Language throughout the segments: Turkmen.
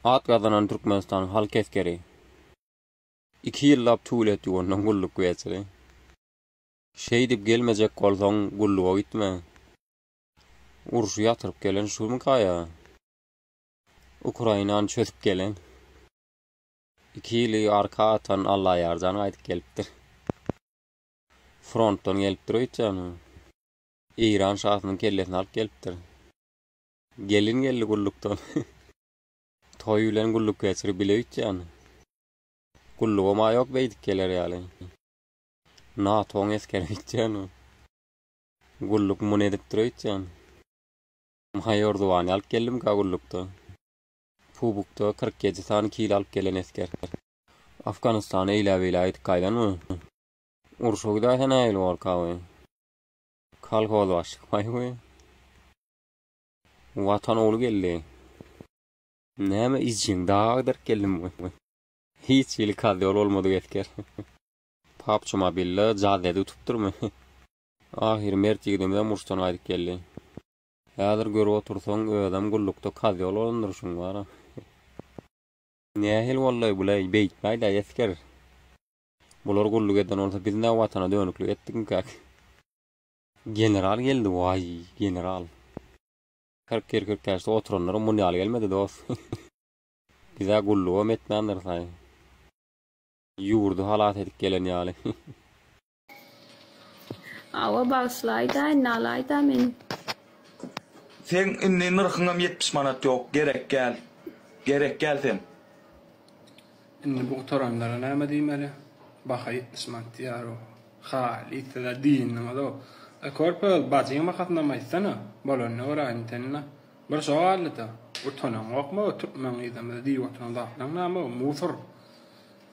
At gazanan Türkmenistanyň halk esgeri. Iki ýyllap tualet ýuwandan gulluk geçiri. Şeýdip gelmejek bolsaň gulluga gitme. Urşy ýatyryp gelen şumy gaýa. Ukrainany çözüp gelen, iki ýyly arka atan Allaýarjan gaýdyp gelipdir. Frontdan gelipdir öýtýäni. Eýran şasynyň kellesini alyp gelipdir. Gelin geldi gullukdan. Toý bilen gulluk geçirip bile öýtýäni. Gullugam-a ýok beýdip geler ýaly. NATO-nyň esgeri öýtýäni. Gulluk muny edipdir öýtýäni. Maýor Zuwany alyp geldim Kagullukda. Pubukda kyrk ýedi sany kil alyp gelen esger. Afganistana eýläbeýlä gidip gaýdanmy? Urşa gidäýse nähili bolkawy? Kolhozbaş çykmaýby? Watan ogly geldi. Näme iýjegin daga agdaryp geldimmi? Hiç hili kazýol bolmadyk esger. Pubg Mobile-de jazz edip utupdyrmy? Ahyry mert ýigidimizem urşdan gaýdyp geldi. Häzir görüp otursaň özem gullukda kazýol bolan durşuň bara. Nähili boldy bu leý beýtmäýdä esger. Bular gulluk eden bolsa biz nä watana dönüklik etdikmikäk. General geldi waý general. Kyrk ýyl kürtäşde oturanlaram muny ýaly gelmedi dost. Bizä gullugam etmändiris aý. Ýurdy halas edip gelen ýaly. Awa bagyşlaýdaýyn nalaýda men. Seň indi nyrhyňam ýetmiş manat ýok gerek gäl gerek gäl sen. Indi bu gutaranlara näme diýmeli? Baha ýetmiş manat diýýäro. Haýli sizler diýindiňizow. Eý körpe öz bajyň bahasynam aýtsana. Bolanyny göräýin sende. Bir şo galdyda. Utanaňokmy türkmen gyzymyzy diýip oturan zatlaň näme o musor.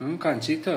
Hum kançita.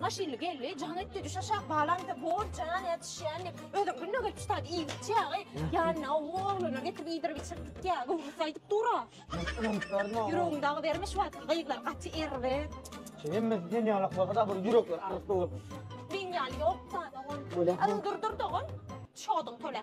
Maşynly geldi, jaň etdi, düş aşak, balam bize bor jan ýetişýän diýip, özem günde gelip çytardy, iýip içýägi, ýanyna o oglana getirip iýdirip içirtdik ýa, gowusy aýdyp dur-a. Ýüregiň dagy berme şu wagtky gyzlar gaty erbe. Şu hemmesi sen ýaly bolsa-da bir ýürekler agyryp dur. Meň ýaly ýok-da dogan. Dur-dur-dur dogan. Çoduň töle.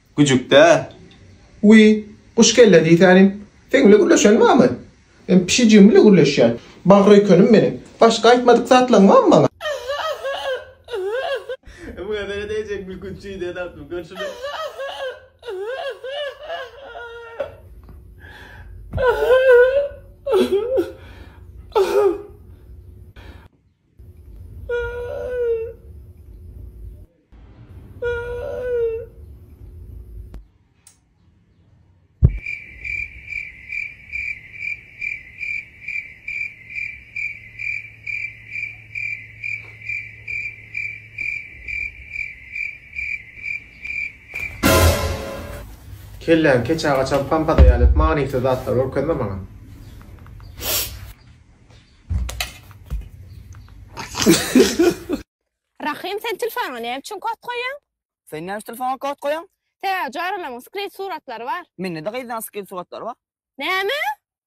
Güjükdä. Wiý, guş kelle diýsänim, seň bile gürleşeň barmy? Men pişijigim bile gürleşýän. Bagryýkenim meniň. Başga aýtmadyk zatlaň barmy maňa? Muňa seni degijek gülkünç jüýje tapdym. Gör şuny. Kelläň keçä gaçan pampada ýaly etme manysyz zatlar görkezme maňa. Rahym sen telfona näme üçin kod goýýaň? Sen näme üçin telfona kod goýýaň? Täze jarylaryň skrin suratlary bar. Mende-de gyzlaň skrin suratlary bar. Näme?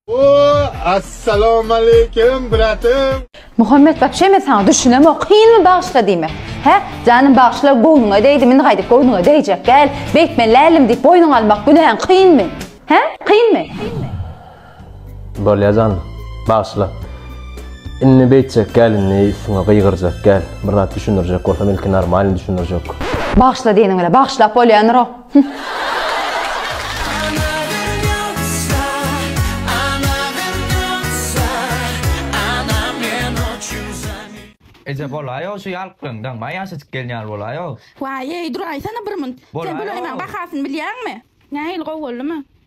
Ooh Assalamualeýkum bratym. Muhammet wapşe men saňa düşünemok kynmy bagyşla diýmek hä janym bagyşla göwnüňe degdim indi gaýdyp göwnüňe degjek däl beýtme lälim diýip boýnuňa almak günäň kynmy hä kynmy. Bolýa jan. Bagyşla. Indi beýtjek gel indi üstüňe gygyrjak gel. Bir zat düşündirjek bolsam ilki normalny düşündirjek. Bagyşla diýeniň bile bagyşlap bolýandyro. Hümm. Eje bolaýaw şu ýalklygyňdan maý ýaşajyk gelin ýaly bolaýaw. Waýeý duraýsana bir munt. Sen bolaýmaň bahasyny bilýäňmi? Nähili gowy boldumy?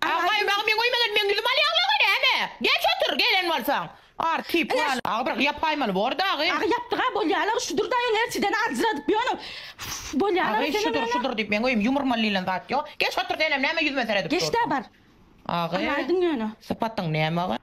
Agam maňa meň öýüme gel meň ýüzümi alýaňlaňa näme? Geç otur gelen bolsaň. Ar tip ýa. Agy bir ýap aýmaly bor dagy. Agy ýapdyga bolýalar şudur daýyň erçiden aljyradyp ýöne bolýalar Agy şudur şudur diýip meň öýüm ýumurmaly diýlen zat ýok. Geç otur senem näme ýüzüme seredip durdyň. Geç dä bar. Agy. Alaýdyň ýöne. Sypatyň näme agy?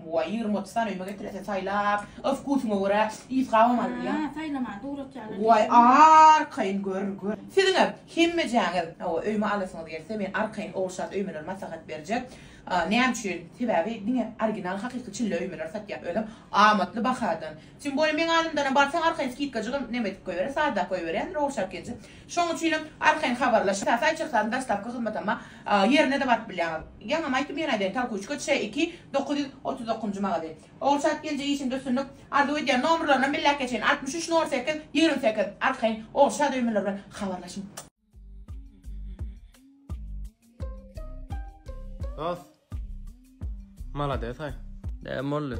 Buaý ýigrimi otuz sany öýüme getirese saýlap öz wkusyňa görä ýz gabam alyp bilýäň. Haa saýlamany dugratýarlar diýip. Buaý arkaýyn gör gör. Siziňem hemmejäňiz hawa öýüme alasyňyz gelse men arkaýyn ogurşat öýmeleri maslahat berjek. Näme üçin? Sebäbi diňe original hakyky çille öýmeleri satýan özem amatly bahadan. Tim boýum meň alymdana barsaň arkaýyn skidka jygym neme edip goýberer sada goýberýän Rowşy Akilji. Şoň üçinem arkaýyn habarlaş ta saýt çyksady daşlapky hyzmatama ýerine-de baryp bilýäň. Ýaňam aýtdym ýene aýdaýyn Tolkuçka ç iki dokuz ýüz otuz dokuzynjy magazyn. Ogulşa Akilje işiňde üstünlik arzuw edýän nomrlaryna belläp geçeýin altmyş üç nol sekiz ýigrimi sekiz arkaýyn Ogulşa döýmeler bilen habarlaşyň. Dos. Malades hay. Ne molly.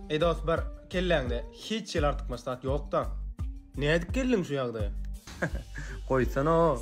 Ey dos bir kelläňde hiç ýel artykmaç zat ýokda. Ne edip geldiň şu ýagdaýa? Goýsana o.